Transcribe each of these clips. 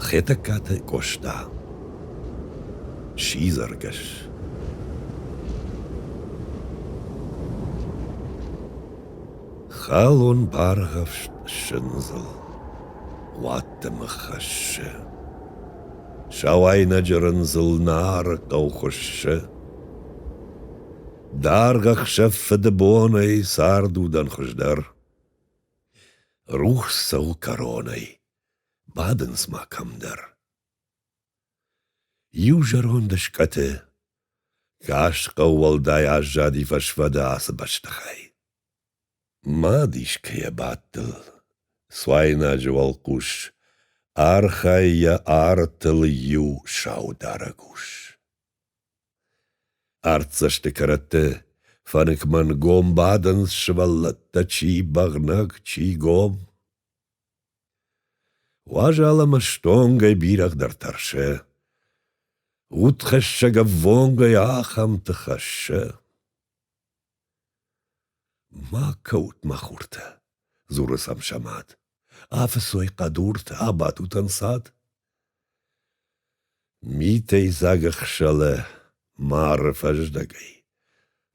Хетӕгкаты Къоста сидзӕргӕс Халон баргъӕфст сындзыл уадтымы хӕссы, Сауайнӕджы рындзыл Нары хъӕу хуыссы. Даргъ ӕхсӕв фыдыбонӕй цард удӕн хуыздӕр. Рухс цӕуы кӕронӕй, бадынц ма кӕмдӕр. Иу зӕронд скъӕты каст хъӕу уӕлдай аззади фӕсфӕды ацы бӕстыхай. Мад искӕйӕ бадтыл, суайнаджы уӕлхъус, архайы йӕ артыл иу саударӕг ус. Артдзӕсты кӕрӕтты фӕныкмӕ гом бадынц сывӕллӕттӕ, чи бӕгънӕг, чи гом. Уазал ӕмӕ стонгӕй бирӕгъдӕр тӕрсы. Удхӕссӕг ӕввонгӕй ахӕмты хӕссы. — Ма кӕут, мӕ хуртӕ, — дзуры сӕм Самат, — афыцой хъӕдуртӕ, абадут ӕнцад. Митӕй дзаг ӕхсӕлы мары фӕздӕгӕй,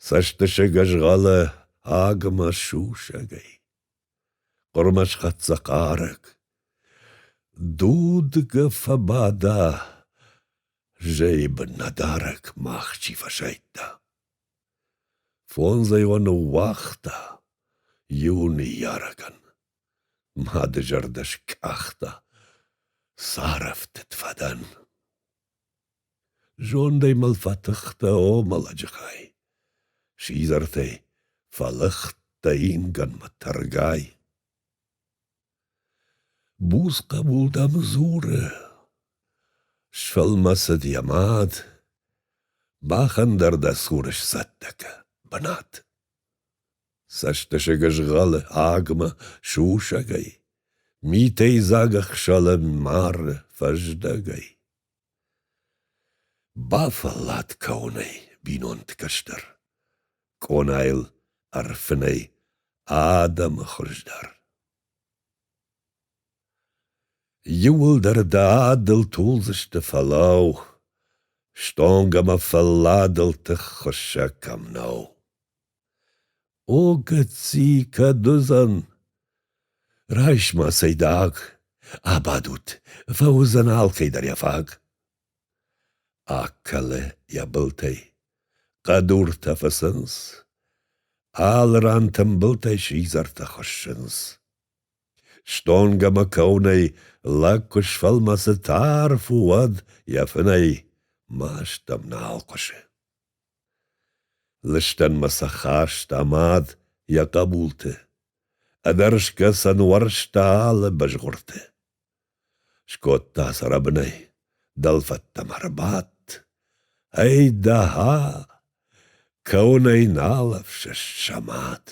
цӕстысыг ӕзгъӕлы агмӕ сусӕгӕй. Хъуырмӕ схӕццӕ хъарӕг. Дудгӕ фӕбада, зӕйы бын нӕ дарӕг мах чи фӕсайдта. Фондзӕй уӕ ныууагъта иу ныййарӕгӕн. Мады зӕрдӕ скъахта, царӕфтыд фӕдӕн. Зондӕй мыл фӕтыхтӕ, о мӕлӕджы хай, Сидзӕртӕй, фӕлыхтӕ ингӕнмӕ тӕргай. Буц хъӕбул дӕм дзуры. Сфӕлмӕцыд йӕ мад. Бӕхӕн дӕр дӕ цуры сцӕттӕ кӕ, бынат. Цӕстысыг згъалы агмӕ сусӕгӕй, Митӕй дзаг ӕхсӕлӕн мары фӕздӕгӕй. Бафӕллад кӕуынӕй бинонты кӕстӕр, къонайыл ӕрфынӕй адӕмы хуыздӕр. Иуылдӕр дӕ адыл тулдзысты фӕлӕу, Стонг ӕмӕ фӕлладыл тыххуыссӕг кӕм нӕу. О, гыцци, кӕд уыдзӕн? Райс-ма цайдагъ, абадут, фӕуыдзӕн алкӕй дӕр йӕ фаг. Акӕлы йӕ былтӕй, хъӕдуртӕ фӕцынц, алы ран тымбылтӕй сидзӕртӕ хуыссынц. Стонг ӕмӕ кӕуынӕй лӕг куы сфӕлмӕцы тарф у, уӕд йӕ фынӕй маст ӕм нал хъуысы. Лыстӕнмӕ сӕ хаст амад йӕ хъӕбулты, Ӕдӕрсгӕ сӕ нуӕрста алы бызгъуырты. Скодта сӕ рӕбынӕй, дӕлфӕдтӕм ӕрбадт, Ӕй, дӕхӕ, кӕуынӕй нал ӕфсӕст Самат.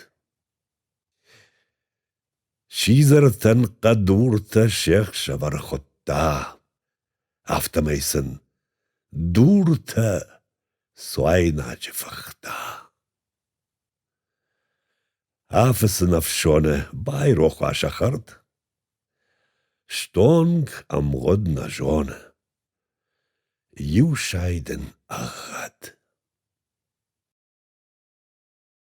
Сидзӕртӕн хъӕдуртӕ се хсӕвӕр хуыдта, афтӕмӕй сын дуртӕ суайнаджы фыхта. Афыцын ӕфсоны байрох уа сӕ хӕрд. Стонг ӕмгъуыд нӕ зоны. Иу сай дын ӕгъгъӕд.